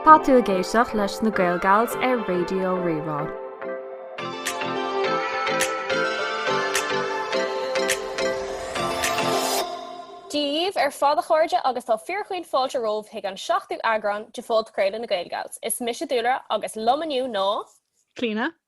Tá tú ag éisteacht leis na Gaelgals ar Raidió Rí-Rá. Dia daoibh ar fad a chairde agus tá fíorchaoin fáilte romhaibh chuig an seachtú eagrán de Phodchraoladh na Gaelgals. Is mise Dúlra agus liom inniu ná. Clíona,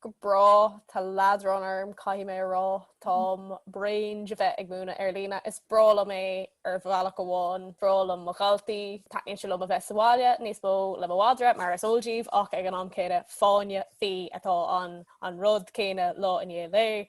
Go bráth, tá leadrán orm, caithfidh mé a rá. Táim bréan de bheith ag múineadh ar líne. Is breá liom é ar bhealach amháin, breá liom mo dhaltaí, taitníonn sé liom a bheith sa bhaile níos mó le mo mhadra mar is eol daoibh ach ag an am céanna fáinne fí atá ann, an rud céanna lá i ndiaidh lae.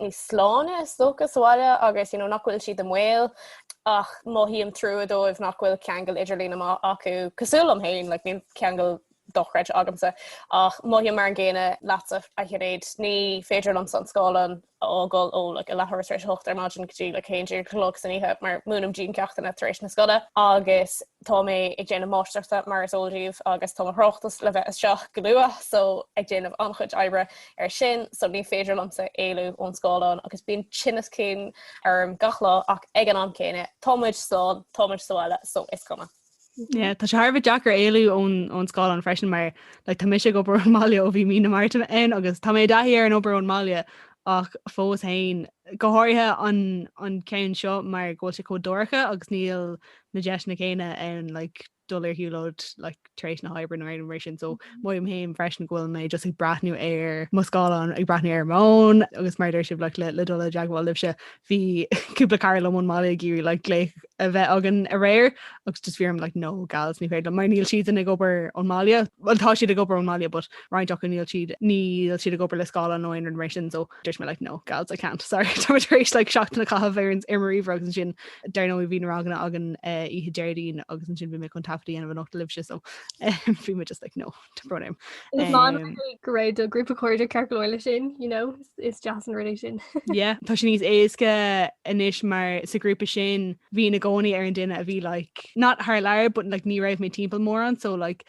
níos sláine is dócha sa bhaile agus you know nach bhfuil siad i mbaol ach mothaím trua dóibh nach bhfuil ceangal idirlín maith acu cosúil liom féin like níl ceangal dochreidte agamsa ach mothaím mar an gcéanna leatsa a Shinéad ní féidir liomsa an scáileán a fhágáil ó like a leathuair tar éis a hocht ar maidin go dtí like a haon déag a chlog san oíche mar múinim déanaim ceachtanna tar éis na scoile agus tá mé ag déanamh máistreachta mar is eol daoibh agus tá mo thráchtas le bheith isteach go luath so ag déanamh an-chuid oibre Ar sin so ní féidir liomsa éalú ón scáileán agus bíonn tinneas cinn orm gach lá ach ag an am céanna tá muid slán, tá muid sa bhaile so is cuma. Yeah, tá sé thar bheith deacair éalú ón ón scáileán freisin mar like tá mise ag obair ón mbaile ó bhí mí na Márta ann agus tá mé i dtaithí ar an obair ón mbaile ach fós féin go háirithe an an ceann seo mar go bhfuil sé chomh dorcha agus níl na deiseanna céanna ann like, dul ar shiúlóid like tar éis na hoibre nó rud mar sin so mothaím fhéin freisin go bhfuil mé just ag breathnú ar mo scáileán ag breathnú ar m'fhón agus maidir, like, le dul i dteagmháil libhse bhí cúpla cara liom ón mbaile ag iarraidh like glaoch a bheith againn aréir agus just bhí orm like no gals ní féidir mar níl siad ag obair ón mbaile bhuel tá siad ag obair ón mbaile but roinnt acu níl siad níl siad ag obair le scáileán nó aon rud mar sin so dúirt mé like no gals I can't sorry Tá mé tar éis like seachtain a chaitheamh ar ar mo ríomhaire agus ansin dar ndóigh bhí na ranganna againn eh, oíche Déardaoin agus ansin bhí mé chun taifead a dhéanamh anocht libhse so eh, bhí mé just like no tá brón orm go raibh do grúpa cairde ceart go leor leis sin you know is deas an rud é sin yeah tá sé níos éasca anois mar sa ghrúpa sin bhínn i gcónaí ar an duine a bhí like not thar lear but like ní raibh mé timpeall mórán so like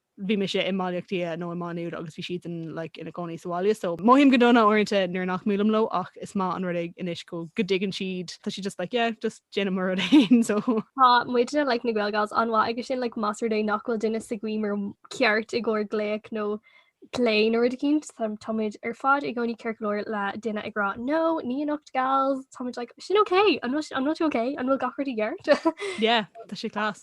bhí mise i mBaile Átha Cliath nó i Má Nuad agus bhí siad in like ina gcónaí sa bhaile so mothaím go dona uaireanta nuair nach mbuailim leo ach is maith an rud é anois go go dtuigeann siad tá siad just like yeah just déanann muid ár rud fhéin so. Tá muidne like na Gaelgals an-mhaith aige sin like más rud é nach bhfuil duine sa ghiúmar ceart i gcomhair glaoch nó plé nó rud eicínt tá muid ar fad i gcónaí ceart go leor le duine ag rá no níl anocht gals tá muid like sin ok an bhfuil an bhfuil tú ok an bhfuil gach rud i gceart? yeah tá sé class.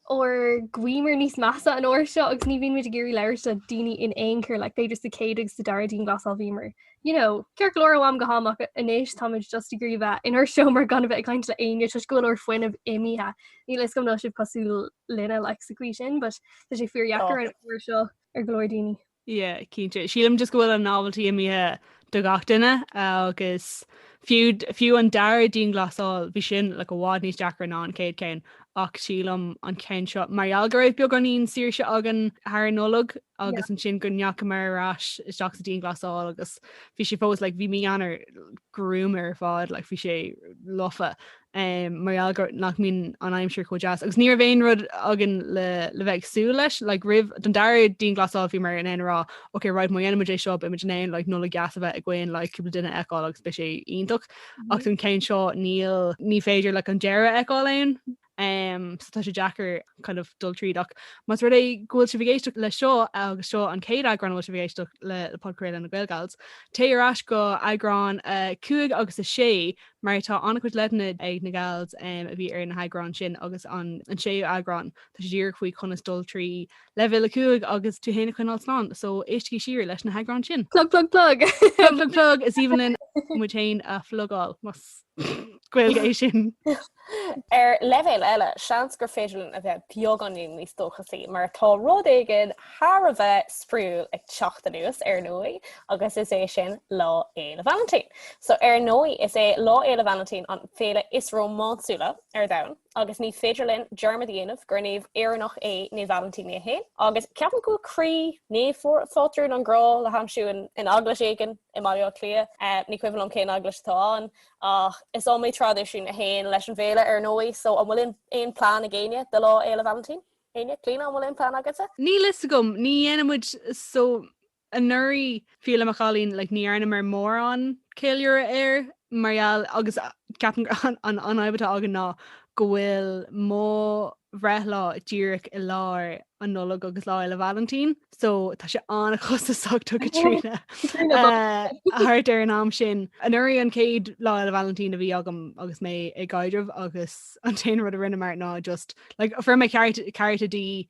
ár ngiúmar níos measa an uair seo agus ní bhíonn muid ag iarraidh labhairt le daoine in aon chor, like b'fhéidir sa chéad agus sa dara dianghlasáil bhíomar, you know, ceart go leor ó am go ham ach anois táimid just ag iarraidh bheith inár seomra gan a bheith ag caint le éinne toisc go bhfuil ár bhfuinneamh imithe. Níl a fhios agam an bhfuil sibh cosúil linne like sa chaoi sin but tá sé fíor dheacair an uair seo ar go leor daoine. Yeah cinnte. Sílim just go bhfuil an novelty imithe do gach duine agus fiú fiú an dara dianghlasáil bhí sin like i bhfad níos deacra ná an chéad céann ach sílim an ceann seo mar gheall go raibh beagáinín saoirse againn thar an Nollaig agus ansin go ndeachamar ar ais isteach sa dianghlasáil agus bhí sé fós like bhí mí Eanáir gruama ar fad like bhí sé lofa um, mar gheall gur nach mbíonn an aimsir chomh deas, agus ní raibh aon rud againn le, le bheith ag súil leis, like, roimh don dara dianghlasáil bhíomar in ann a rá, ok, right, má dhéanfaimid é seo, beimid in ann, like, Nollaig dheas a bheith againn, like, cúpla duine a fheiceáil agus beidh sé iontach, mm-hmm. ach don ceann seo níl, ní féidir le like, an deireadh a fheiceáil ann, um, so tá sé deacair kind of dul tríd ach más rud é go bhfuil sibh ag éisteacht le seo agus seo an chéad eagrán a bhfuil sibh ag éisteacht le, le podchraoladh na Gaelgals, téigh ar ais go eagrán uh, 5 agus a 6 mar tá an-chuid leideanna ag na Gals a bhí ar na heagráin sin agus an séú eagrán tá sé díreach faoi conas dul trí Leibhéal 5 agus tú féin a choinneáil slán, so éistigí siar leis na heagráin sin. Plug plug plug! Plug plug plug! Is aoibhinn linn muid féin a phlugáil, más Gaeilge é sin. Ar leibhéal eile, seans gur féidir linn a bheith beagáinín níos dóchasaí mar tá rud éigin thar a bheith spraíúil ag teacht anuas, ar ndóigh, agus is é sin Lá Fhéile Vailintín. So ar ndóigh is é Lá Fhéile Vailintín an féile is rómánsúla ar domhan agus ní féidir linn dearmad a dhéanamh gur naomh Éireannach é Naomh Vailintín é féin agus ceapaim go bhfuil croí naomhphátrún an grá le haimsiú in eaglais éigin i mBaile Átha Cliath, ní cuimhin liom cén eaglais atá ann ach is iomaí traidisiún a théann leis an bhféile ar ndóigh so an bhfuil aon plean ag éinne do Lá Fhéile Vailintín? Éinne? Clíona an bhfuil aon plean agatsa? Níl a fhios agam, ní dhéanaimid so Anuraidh, fiú le mo chailín, like, ní dhearnamar mórán ceiliúradh air mar gheall agus ceapaim gur an an fhadhb atá againn ná go bhfuil mo bhreithlá díreach i lár an Nollaig agus Lá Fhéile Vailintín, so tá sé an-chostasach do Chaitríona thart ar an am sin. Anuraidh an chéad Lá Fhéile Vailintín a bhí agam agus mé i gcaidreamh agus an t-aon rud a rinneamar ná just, like, fuair mé cárta di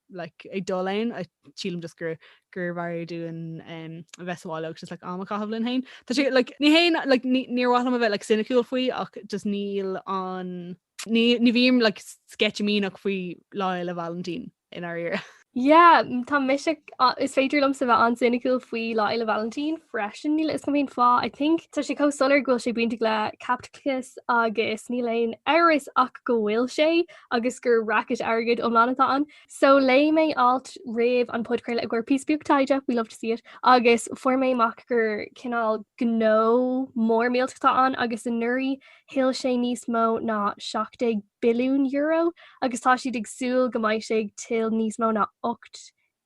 like ag dul ann, sílim just gur gurbh fhearr dúinn a bheith sa bhaile agus just like am a chaitheamh linn féin. Tá sé like ní haon like ní níor mhaith liom a bheith like soiniciúil faoi ach just níl an ní ní bhím like sceitimíneach faoi Lá Fhéile Vailintín i ndáiríre. Yeah, tá mise á- is féidir liom sa bheith an-soiniciúil faoi Lá Fhéile Vailintín freisin níl a fhios agam cén fáth I think tá sé chomh soiléir go bhfuil sé bainteach le caipitleachas agus níl aon amhras ach go bhfuil sé agus gur racket airgid iomlán atá ann. So léigh mé alt roimh an podchraoladh i gcomhair píosa beag taighde, we love to see it, agus fuair mé amach gur cineál gnó mór millteach atá ann agus anuraidh thuill sé níos mó ná €17 billiún agus tá siad ag súil go mbeidh sé ag tuill níos mó ná €18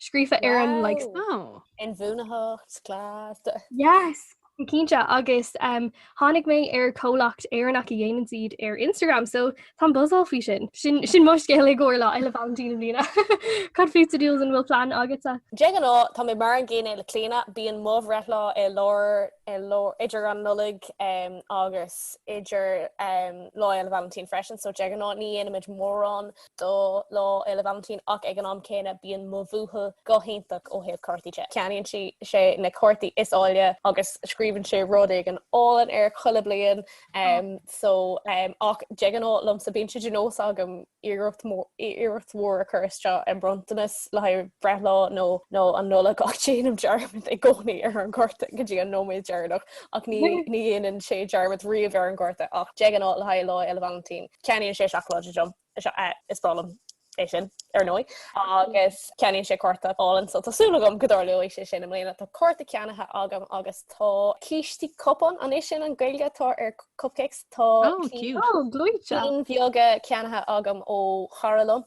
scríofa ar an like Wow. Inbhuanaitheacht, class. Yes! Cinnte agus um, tháinig mé ar comhlacht Éireannach a dhéanann siad ar Instagram, so táim ag buzzáil faoi sin. Sin sin mo scéal i gcomhair Lá Fhéile Vailintín i mbliana. Cad fútsa Jules an bhfuil plan agatsa? De ghnáth tá mé mar an gcéanna le Clíona, bíonn mo bhreithlá i lár i lár idir an Nollaig em, agus idir em, Lá Fhéile Vailintín freisin, so de ghnáth ní dhéanaimid mórán do Lá Fhéile Vailintín ach ag an am céanna bíonn mo bhuachaill go hiontach ó thaobh cártaí de. Ceannaíonn sé na cártaí is áille agus scríobhann sé rud éigin álainn air chuile bliain so ach de ghnáth liomsa bíonn sé de nós agam iarracht mhór a chur isteach i mbronntanas le haghaidh breithlá nó an Nollaig ach déanaim dearmad i gcónaí ar an gcárta go dtí an nóiméad deireanach ach ní dhéanann sé dearmad riamh ar an gcárta ach de ghnáth le haghaidh Lá Fhéile Vailintín. Ceannaíonn sé seacláidí dom, is breá liom é sin ar ndóigh, agus ceannaíonn sé cárta álainn so tá súil agam go dtarlóidh sé sin i mbliana. Tá cárta ceannaithe agam agus tá cístí cupán an é sin an Gaeilge atá ar cupcakes? Tá cinn beaga ceannaithe agam ó chara liom.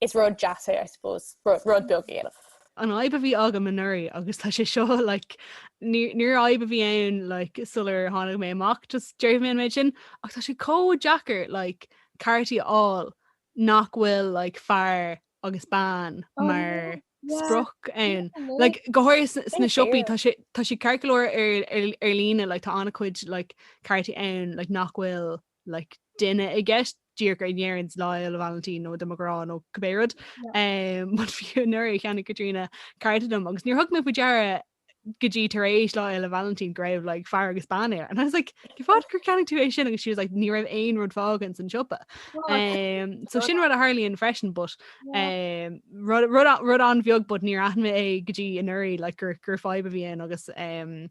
Is rud deas é, I suppose, rud beag a dhéanamh. An fhadhb a bhí agam anuraidh agus tá sé seo like níor fhadhb a bhí ann like sular tháinig mé amach just déarfaidh mé an méid sin ach tá sé chomh deacair like cártaí a fháil nach bhfuil like fear agus bean mar sprioc ann like go háirithe sna siopaí tá sé tá siad ceart go leor ar ar líne like tá an-chuid like cártaí ann like nach bhfuil like duine i gceist díreach go ndeireann sé Lá Fhéile Vailintín nó do mo ghrá nó cibé rud. Mar fiú anuraidh cheannaigh Caitríona cárta dom agus níor thug mé faoi deara go dtí tar éis lá Fhéile Vailintín go raibh like fear agus bean air and I was like "Cén fáth gur cheannaigh tú é sin?" agus she was like "Ní raibh aon rud fágtha ins an siopa." So sin rud a tharlaíonn freisin but um, rud rud a- rud an-bheag but níor aithin mé é go dtí anuraidh like gur gur fadhb a bhí ann agus um,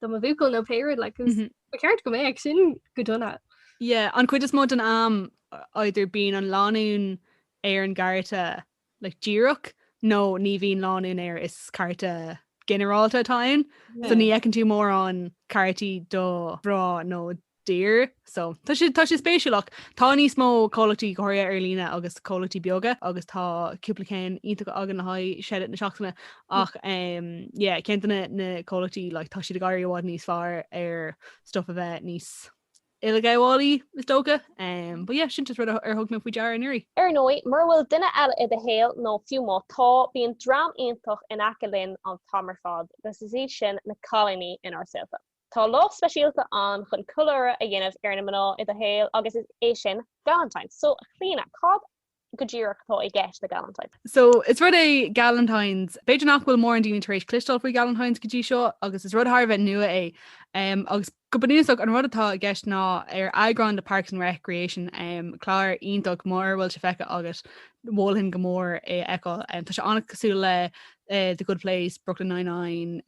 do mo bhuachaill nó pé rud like 'cause ba cheart go mbeadh. Ach sin go dona. Yeah, an chuid is mó den am either bíonn an lánúin ar an gcárta like díreach nó ní bhíonn lánúin air is cárta ginearálta atá ann so ní fheiceann tú mórán cártaí do mhná nó dear, so tá sé tá sé spéisiúil ach. Tá níos mó comhlachtaí go háirithe ar líne agus comhlachtaí beaga agus tá cúpla ceann iontach againn le haghaidh shoutout na seachtaine ach em, yeah, ceann de na comhlachtaí like, tá siad ag éirí i bhfad níos fearr ar stuff a bheith níos uileghabhálaí is dócha um, but yeah, sin just rud ar thug mé faoi deara anuraidh. Ar ndóigh, mura bhfuil duine eile i do shaol nó fiú má tá, bíonn dream iontach in aice linn an t-am ar fad, agus is iad sin na cailíní inár saolta. Tá lá speisialta ann chun ceiliúradh a dhéanamh ar na mná i do shaol agus is é sin Galentine's. So, a Chlíona, cad go díreach atá i gceist le Galentine's? So, is rud é Galentine's, b'fhéidir nach bhfuil mórán daoine tar éis cloisteáil faoi Galentine's go dtí seo agus is rud thar a bheith nua é agus go bunúsach an rud atá i gceist ná ar eagrán de Parks and Recreation, clár iontach mura bhfuil sé feicthe agat, mholfainn go mór é a fheiceáil. Tá sé an-cosúil le The Good Place, Brooklyn Nine-Nine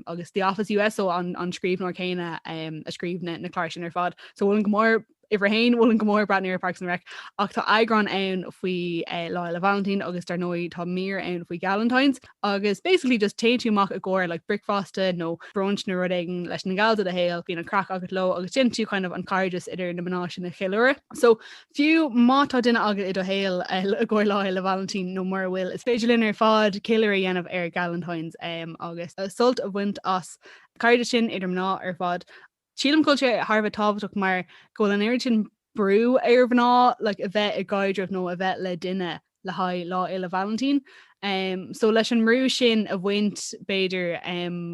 agus The Office US so an scríbhneoir céanna a scríobh na cláir sin ar fad. So mholfainn go mór, uimhir a haon, mholfainn go mór breathnú ar Parks and Rec ach tá eagrán ann faoi Lá Fhéile Vailintín agus dar ndóigh tá mír ann faoi Galentine's agus basically just téann tú amach i gcomhair like bricfeasta nó brunch nó rud éigin leis na gals i do shaol, bíonn an craic agat leo agus déanann tú kind of an cairdeas idir na mná sin a cheiliúradh. So Fiú má tá duine agat i do shaol i gcomhair Lá Fhéile Vailintín nó mura bhfuil, is féidir linn ar fad ceiliúradh a dhéanamh ar Galentine's agus sult a bhaint as cairdeas sin idir mná ar fad. Sílim go bhfuil sé thar a bheith tábhachtach mar go bhfuil an oiread sin brú ar mhná like a bheith i gcaidreamh nó a bheith le duine le haghaidh Lá Fhéile Vailintín. So leis an mbrú sin a bhaint b'fhéidir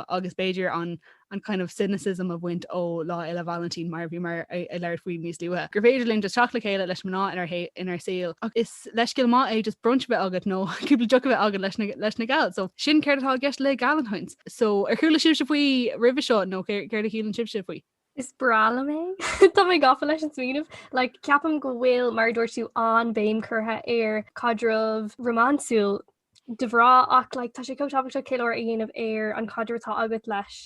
agus b'fhéidir an an kind of cynicism a bhaint ó Lá Fhéile Vailintín mar a bhíomar ag labhairt faoi níos luaithe, gur féidir linn just teacht le chéile leis na mná inár inár saol ach is leithscéal maith é just brunch a bheith agat nó cúpla deoch a bheith agat leis na leis na gals. So sin céard atá i gceist le Galentine's. So ar chuala sibhse faoi roimhe seo nó céard a shíleann sibhse faoi? Is breá liom é. Tá mé gafa leis an smaoineamh. Like, ceapaim go bhfuil, mar a dúirt tú, an-bhéim curtha ar chaidreamh rómánsúil de ghnáth ach like, tá sé chomh tábhachtach ceiliúradh a dhéanamh ar an chaidreamh atá agat leis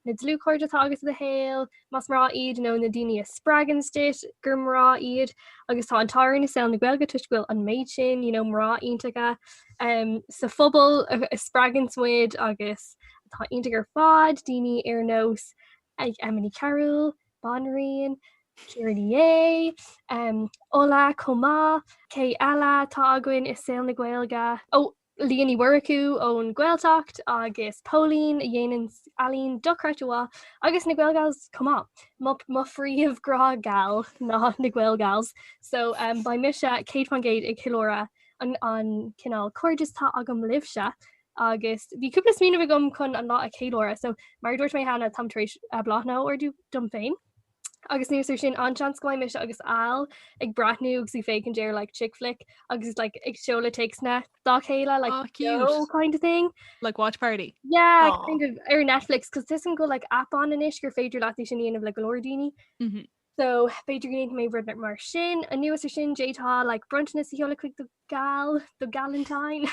na dlúthchairde atá agat i do shaol, más mná iad nó na daoine a spreaganns duit gur mná iad. Agus tá an t-ádh orainn i saol na Gaeilge toisc go bhfuil an méid sin, you know, mná iontacha um, sa phobal a spreaganns muid agus atá iontach ar fad, daoine ar nós ag Emma Ní Chearúil, banríon, Ciara Ní É, Ola chomh maith, cé eile atá againn i saol na Gaeilge? Ó, Liadh Ní Mhurchú ón Gaeltacht agus Póilín a dhéanann ealaín dochreidte mhaith agus na Gaelgals chomh maith. Mo mo phríomh grá geal ná na Gaelgals so beidh mise céad faoin gcéad ag ceiliúradh an an cineál cairdeas atá agam libhse Agus bhí cúpla smaoineamh agam chun an lá a cheiliúradh, so mar a dúirt mé cheana táim tar éis bláthanna a ordú dom féin. Agus anuas air sin an-seans go mbeidh mise agus Al ag breathnú agus ag féachaint ar like chick flick agus like ag seoladh téacsanna dá chéile like Aw, cute. yo kind of thing. Like watch party. Yeah, Aw. kind of ar Netflix cos tuigim go bhfuil like app ann anois gur féidir leat é sin a dhéanamh le go leor daoine. Mhm. So b'fhéidir go ndéanfaidh mé rud mar sin. Anuas air sin, d'fhéadfá like bronntanas a sheoladh chuig do gal, do galentine,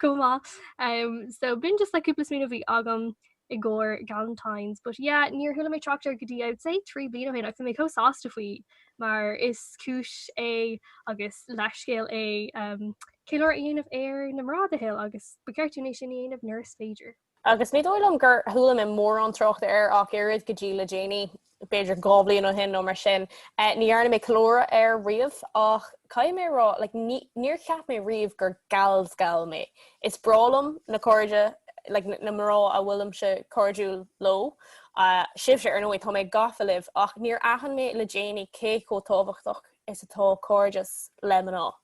chomh maith. Um so b'in just like cúpla smaoineamh a bhí agam i gcomhair galentines. But yeah, níor chuala mé trácht air go dtí I would say trí bliana ó shin agus tá mé chomh sásta faoi mar is cúis é agus leathscéal é um ceiliúradh a dhéanamh ar na mná i do shaol agus ba cheart dúinn é sin a dhéanamh nuair is féidir. agus ní dóigh liom gur chuala mé mórán trácht air ach oiread go dtí le déanaí, b'fhéidir dhá bhliain ó shin nó mar sin. Ní dhearna mé ceiliúradh air riamh ach caithfidh mé a rá like níor cheap mé riamh gur gal's gal mé. Is breá liom na cairde like na mná a bhfuilimse cairdiúil leo, sibhse ar ndóigh, tá mé gafa libh ach níor aithin mé le déanaí cé chomh tábhachtach is atá cairdeas le mná.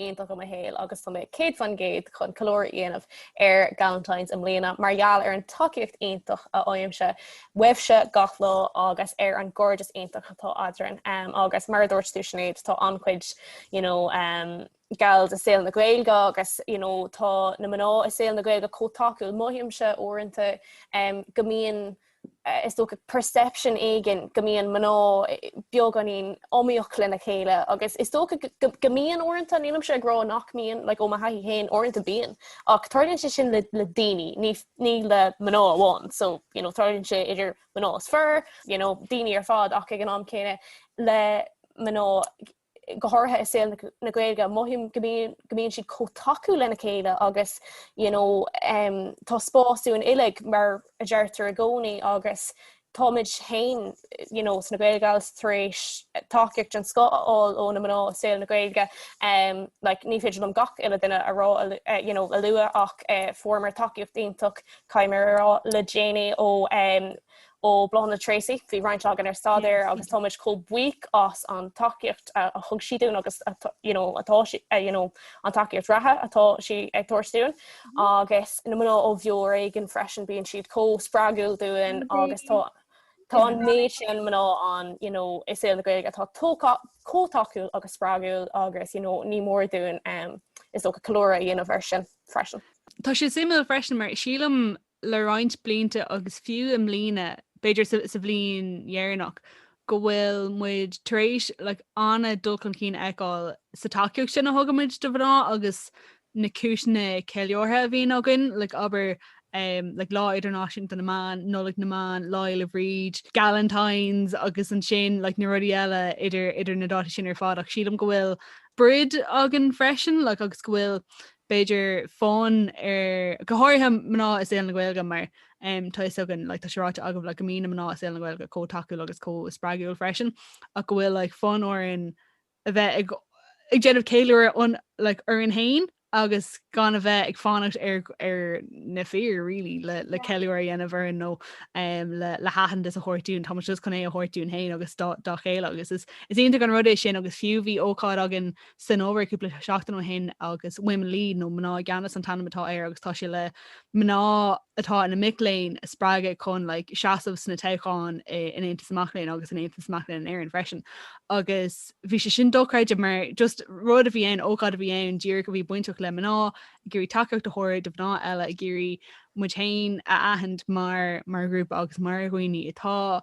iontach i mo shaol agus tá mé 100% chun ceiliúradh a dhéanamh ar Galentine's i mbliana mar gheall ar an tacaíocht iontach a fhaighimse uaibhse gach lá agus ar an gcairdeas iontach atá eadrainn um, agus mar a dúirt tú Sinéad tá an-chuid you know, um, gals i saol na Gaeilge agus you know, tá na mná i saol na Gaeilge chomh tacúil mothaímse uaireanta um, go mbíonn Is dócha perception éigin go mbíonn mná beagáinín iomaíoch lena chéile agus is dócha go mbíonn uaireanta, nílimse ag rá nach mbíonn, like ó mo thaithí féin, uaireanta bíonn ach tarlaíonn sé sin le daoine, ní le mná amháin. So, you know, tarlaíonn sé idir mná is fir, you know, daoine ar fad ach ag an am céanna le mná, go háirithe i saol na Gaeilge, mothaím go mbíonn siad chomh tacúil lena chéile agus you know, um, tá spás dúinn uilig mar a deirtear i gcónaí agus táimid féin you know, sna Gaelgals tar éis tacaíocht den scoth a fháil ó na mná i saol na Gaeilge um, like, ní féidir liom gach uile duine a rá uh, you know, a lua ach uh, eh, fuaireamar tacaíocht iontach caithfidh mé a rá le déanaí ó um, Ó Bláthnaid Treacy, bhí roinnt againn ar staidéar agus táimid chomh buíoch as an tacaíocht a thug sí dúinn agus atá an tacaíocht reatha atá sí ag tabhairt dúinn. Agus na mná ó Bheo ar Éigean freisin, bíonn siad chomh spreagúil dúinn agus tá tá an méid sin mná ann i saol na Gaeilge atá chomh tacúil agus spreagúil agus ní mór dúinn is dócha ceiliúradh a dhéanamh air sin freisin. Tá sé suimiúil freisin mar sílim le roinnt blianta agus fiú i mbliana, b'fhéidir sa bhliain dheireanach, go bhfuil muid tar éis like an-dul chun cinn a fheiceáil sa tacaíocht sin a thugaimid do mhná agus na cúiseanna ceiliúrtha a bhíonn againn, like abair, like Lá Idirnáisiúnta na mBan, Nollaig na mBan, Lá Fhéile Bríde, Galentine's agus ansin like na rudaí eile idir na dátaí sin ar fad ach sílim go bhfuil bród againn freisin like agus go bhfuil b'fhéidir fonn ar, go háirithe, mná i saol na Gaeilge mar tá a fhios againn, like, tá sé ráite agaibh, like, go mbíonn na mná i saol na Gaeilge chomh tacúil agus chomh spreagúil freisin ach go bhfuil, like, fonn orainn a bheith ag, ag déanamh ceiliúradh, like, orainn féin agus gan a bheith ag fanacht ar, ar na fir, really, le, le ceiliúradh a dhéanamh orainn nó le, le haitheantas a thabhairt dúinn. Táimid just chun é a thabhairt dúinn féin agus dá, dá chéile agus is, is iontach an rud é sin agus fiú bhí ócáid againn san ábhar cúpla seachtain ó shin agus Women Lead nó Mná i gCeannas an t-ainm atá air agus tá sé le mná atá ina mic léinn a spreagadh chun like, seasamh sna toghcháin in Aontas na Mac Léinn agus in Aontas na Mac Léinn in Éirinn freisin agus bhí sé sin dochreidte mar just rud a bhí ann, ócáid a bhí ann díreach a bhí bainteach le mná ag iarraidh tacaíocht a thabhairt do mhná eile ag iarraidh muid féin a aithint mar, mar ghrúpa agus mar dhaoine atá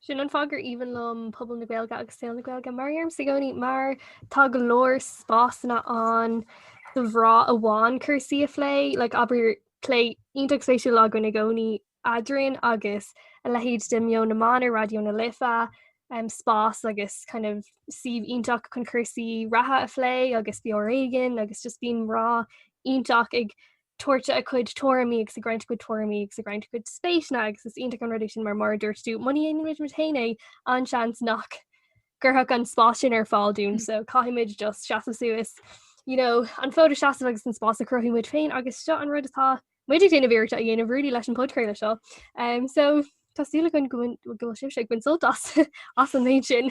Sin an fáth gur aoibhinn liom pobal na Gaeilge agus saol na Gaeilge mar domsa i gcónaí mar tá go leor spásanna ann do mhná amháin cúrsaí a phlé like abair plé iontach spéisiúil againn i gcónaí eadrainn agus a leithéid de Meon na mBan ar Raidió na Life, um, spás agus kind of suíomh iontach chun cúrsaí reatha a phlé agus Beo ar Éigean agus just bíonn mná iontacha ag tabhairt a gcuid tuairimí agus ag roinnt a gcuid tuairimí agus ag roinnt a gcuid spéiseanna agus is iontach an rud é sin mar mar a dúirt tú muna ndéanann muid muid féin é an-seans nach gcuirfear an spás sin ar fáil dúinn so caithfimid just seasamh suas you know an fód a sheasamh agus an spás a chruthú muid féin agus seo an rud atá muid ag déanamh iarracht a dhéanamh really leis an bpodchraoladh seo um, so tá súil againn go bhfuil sibhse ag baint sult as as an méid sin.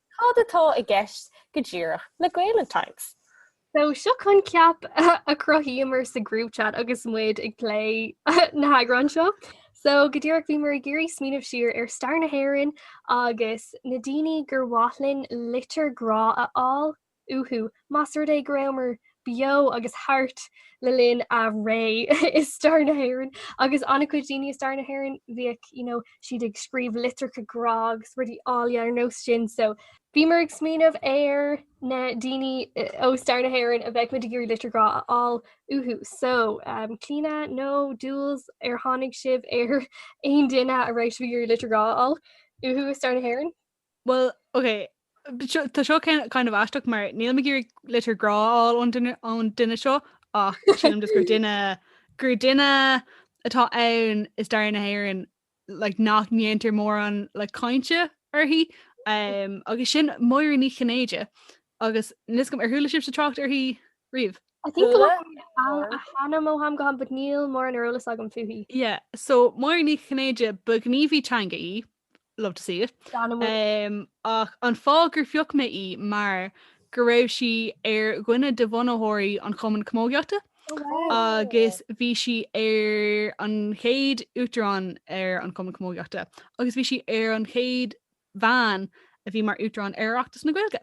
Cad atá i gceist go díreach le Gaelentine's? So seo coincheap a chruthaíomar sa group chat agus muid ag plé an eagráin seo. So go díreach bhíomar ag iarraidh smaoineamh siar ar stair na hÉireann agus na daoine gur mhaith linn litir grá a fháil uathu. Más rud é go rabhamar beo agus thart le linn a réimse i stair na hÉireann agus an-chuid daoine i stair na hÉireann bhíodh you know siad ag scríobh litreacha grá agus rudaí áille ar nós sin so bhíomar ag smaoineamh ar na daoine ó stair na hÉireann a bheadh muid ag iarraidh litir grá a fháil uathu. So um, Clíona nó Jules ar tháinig sibh ar aon duine a mbeadh sibh ag iarraidh litir grá a fháil uathu i stair na hÉireann? Bhuel, ok, tá seo kind of aisteach mar níl mé ag iarraidh litir grá a fháil ón duine, ón duine seo ach sílim just gur duine, gur duine atá ann i stair na hÉireann like nach ndéantar mórán like cainte uirthi um, agus sin Máire Ní Chinnéide agus níl a fhios agam ar chuala sibhse trácht uirthi riamh. I think go bhfuil a hainm ó am go ham, but níl mórán eolais agam fúithi. Yeah, so Máire Ní Chinnéide ba ghníomhaí teanga í love to see it. Ach an fáth gur phioc mé í mar go raibh sí ar dhuine de bhunaitheoirí an Chumainn Camógaíochta oh, agus bhí sí ar an chéad uachtarán ar an Cumann Camógaíochta agus bhí sí ar an chéad bhean a bhí mar uachtarán ar Oireachtas na Gaeilge.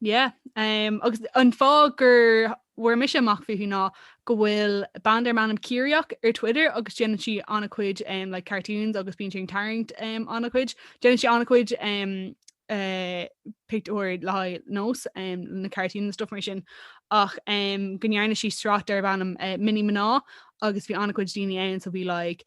Yeah ehm agus an fáth gur bhfuair mise amach fúithi ná go bhfuil bean darb ainm Ciaraíoch ar Twitter agus déanann sí an-chuid ehm like cartoons agus bíonn sí ag tarraingt ehm an-chuid. Déanann sí an-chuid ehm eh pictiúir le haghaidh Nós ehm na cartoons and stuff mar sin ach ehm go ndearna sí sraith darbh ainm eh Mini Mná agus bhí an-chuid daoine ann so bhí like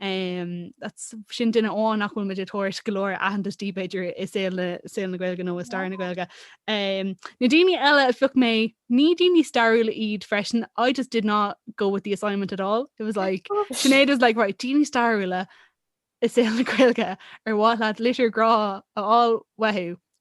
That's, sin duine amháin nach bhfuil muid ag tabhairt go leor aitheantais di b'fhéidir i saol na saol na Gaeilge nó i stair na Gaeilge. Na daoine eile a phioc mé, ní daoine stairiúla iad freisin, I just did not go with the assignment at all. It was like, Sinéad was like, 'Right, daoine stairiúla i saol na Gaeilge, ar mhaith leat litir grá a fháil uathu?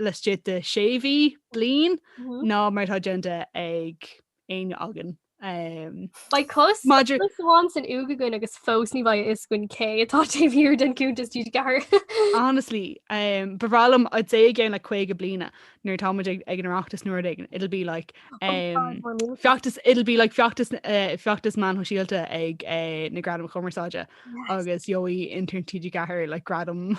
laistigh de sé mhí, bliain ná mar atá déanta ag éinne againn. Beidh cos amháin san uaigh againn agus fós ní bheidh a fhios againn cé atá taobh thiar den cuntas TG4. Honestly, ba bhreá liom I'd say i gceann like 50 bliana nuair atá muid ag an Oireachtas nuair éigin, it'll be like feachtas it'll be like feachtas feachtas meáin shóisialta ag na Gradaim Chumarsáide agus gheobhaidh intern TG4 like gradam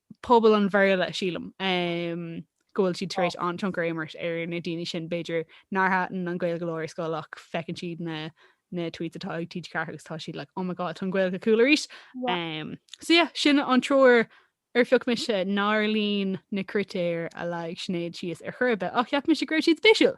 pobal an Bhéarla, sílim go bhfuil siad tar éis an-tionchar a imirt ar na daoine sin, b'fhéidir, nár thaitin an Ghaeilge leo ar scoil ach feiceann siad na tweets atá ag TG4 agus tá siad like, oh my God, tá an Ghaeilge cool arís. Um, so yeah, sin an triúr ar phioc mise nár líon na critéir a leag Sinéad síos ar chor ar bith ach cheap mise go raibh siad spéisiúil.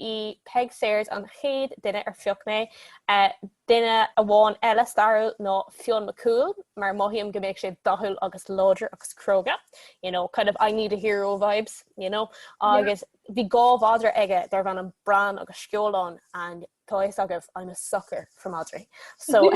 í Peig Sayers an chéad duine ar phioc mé. Duine amháin eile stairiúil ná Fionn Mac Cumhaill mar mothaím go mbeadh sé dathúil agus láidir agus cróga, you know, kind of I need a hero vibes, you know, agus bhí dhá mhadra aige darbh ainm Bran agus Sceolán and tá a fhios agaibh I'm a sucker for madraí. So,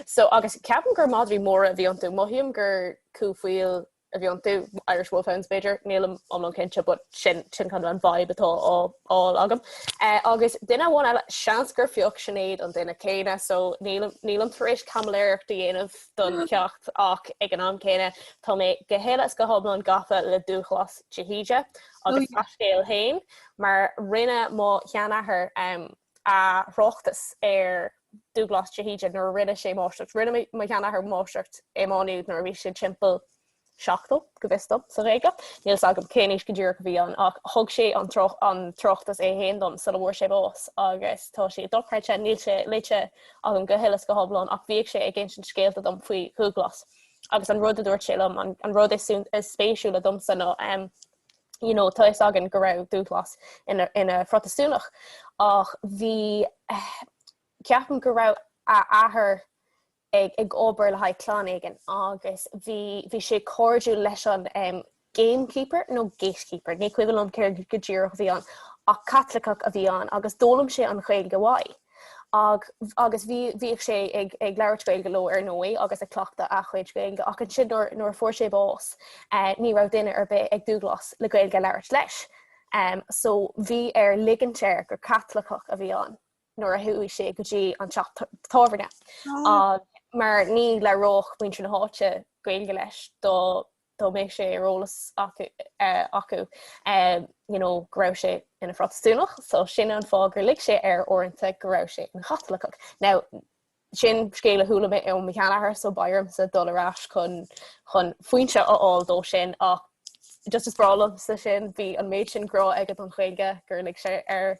so agus ceapaim gur madraí móra a bhí iontu, mothaím gur cú faoil a bhí iontu, Irish Wolfhounds b'fhéidir, nílim iomlán cinnte, but sin sin kind of an vibe atá á fháil agam. Eh, agus duine amháin eile, seans gur phioc Sinéad an duine céanna, so nílim nílim tar éis caimiléireacht a dhéanamh don cheacht ach ag an am céanna tá mé go huile is go hiomlán gafa le Dúghlas de hÍde agus a scéal féin mar rinne mo sheanathair, em, a thráchtas ar Dúghlás de hÍde nuair a rinne sé máistreacht. Rinne mo sheanathair máistreacht i Má Nuad nuair a bhí sé timpeall seachtó, go bhfios dom, sa Ghaeilge. Níl fhios agam cén aois go díreach a bhí ann ach thug sé an tráchtas é féin dom sula bhfuair sé bás agus tá sé dochreidte, níl sé léite agam go huile is go hiomlán ach bhíodh sé ag insint scéalta dom faoi Dhúghlás agus an rud a dúirt sé liom, an rud is spéisiúla domsa ná you know, tá a fhios againn go raibh Dúghlás ina, ina Phrotastúnach ach bhí eh, ceapaim go raibh a athair ag, ag obair le haghaidh clann éigin agus bhí, bhí sé cairdiúil leis an em, gamekeeper nó no, gatekeeper, ní cuimhin liom céard go díreach a bhí ann ach Caitliceach a bhí ann agus d'fhoghlaim sé an Ghaeilge uaidh. Ach agus bhí bhíodh sé ag ag labhairt Gaeilge leo ar ndóigh agus ag cleachtadh a chuid Gaeilge ach ansin nuair nuair a fuair sé bás eh ní raibh duine ar bith ag Dúghlás le Gaeilge a labhairt leis. Em so bhí air ligint air gur Caitliceach a bhí ann nuair a chuaigh sé go dtí an teach tábhairne. Ah. Mar ní labhródh muintir na háite Gaeilge leis do dá mbeadh sé ar eolas acu acu you know go raibh sé ina Phrotastúnach, so sin an fáth gur lig sé air uaireanta go raibh sé ina Chaitliceach. Now sin scéal a chuala mé ó mo sheanathair so bheadh ormsa dul ar ais chun chun foinse a fháil dó sin ach just is breá liomsa sin, bhí an méid sin grá aige don Ghaeilge gur lig sé air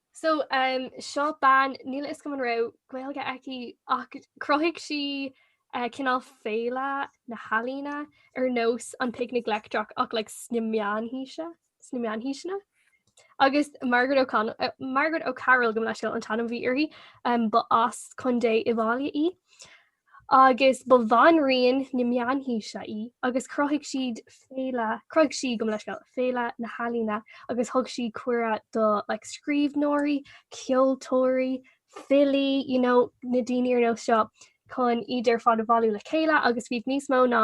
So seo bean níl a fhios agam an raibh Gaeilge aici ach chruthaigh sí cineál féile na n-ealaíon ar nós an Picnic Leictreach ach like sna meánaoise, sna meánaoiseanna. Agus Margaret O'Con- Margaret O'Carroll gabh mo leithscéal an t-ainm a bhí uirthi, ba as Contae Uíbh Fhailí í. agus ba bhanríon na Meánaoise í agus chruthaigh siad féile, chruthaigh sí, gabh mo leithscéal, Féile na nEalaíon agus thug sí cuireadh do like scríbhneoirí, ceoltóirí, filí, you know, na daoine ar nós seo chun iad ar fad a bhailiú le chéile agus bhíodh níos mó ná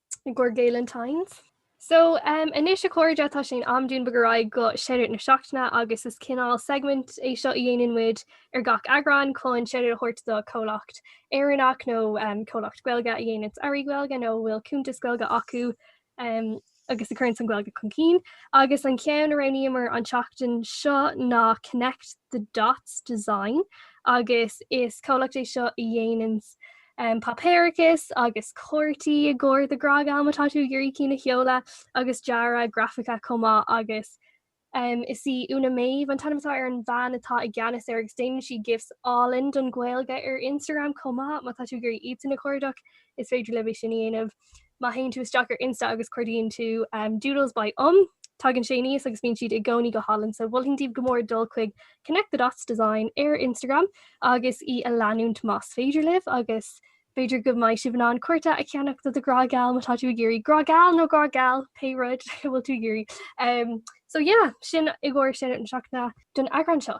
gcur Gaelentines. So um anois a chairde tá sé in am dúinn bogadh ar aghaidh go shoutout na seachtaine agus is cineál segment é seo a dhéanann muid ar gach eagrán chun shoutout a thabhairt do chomhlacht Éireannach nó um comhlacht Gaeilge a dhéananns earraí Gaeilge nó a bhfuil cuntas Gaeilge acu um agus a chuireanns an Ghaeilge chun cinn. Agus an ceann a roghnaíomar an tseachtain seo ná Connect the Dots Design agus is comhlacht é seo a dhéananns páipéarachas agus cártaí i gcomhair do ghrá geal má tá tú ag iarraidh cinn a sheoladh agus dearadh grafaice chomh maith agus is í Úna Méabh an t-ainm atá ar an bhean atá i gceannas air agus déanann sí gifs álainn don Ghaeilge ar Instagram chomh maith. Má tá tú ag iarraidh iadsan a chuardach is féidir libh é sin a dhéanamh. Má théann tú isteach ar Insta agus cuardaíonn tú Doodles by Umm, tagann sé aníos agus bíonn siad i gcónaí go hálainn. So mholfainn daoibh go mór dul chuig Connect the Dots Design ar Instagram agus í a leanúint más féidir libh agus b'fhéidir go mbeidh sibh in ann cárta a cheannach do do ghrá geal má tá tú ag iarraidh grá geal nó grá geal, pé rud a bhfuil tú ag iarraidh. So yeah, sin i gcomhair sin na seachtaine don eagrán seo.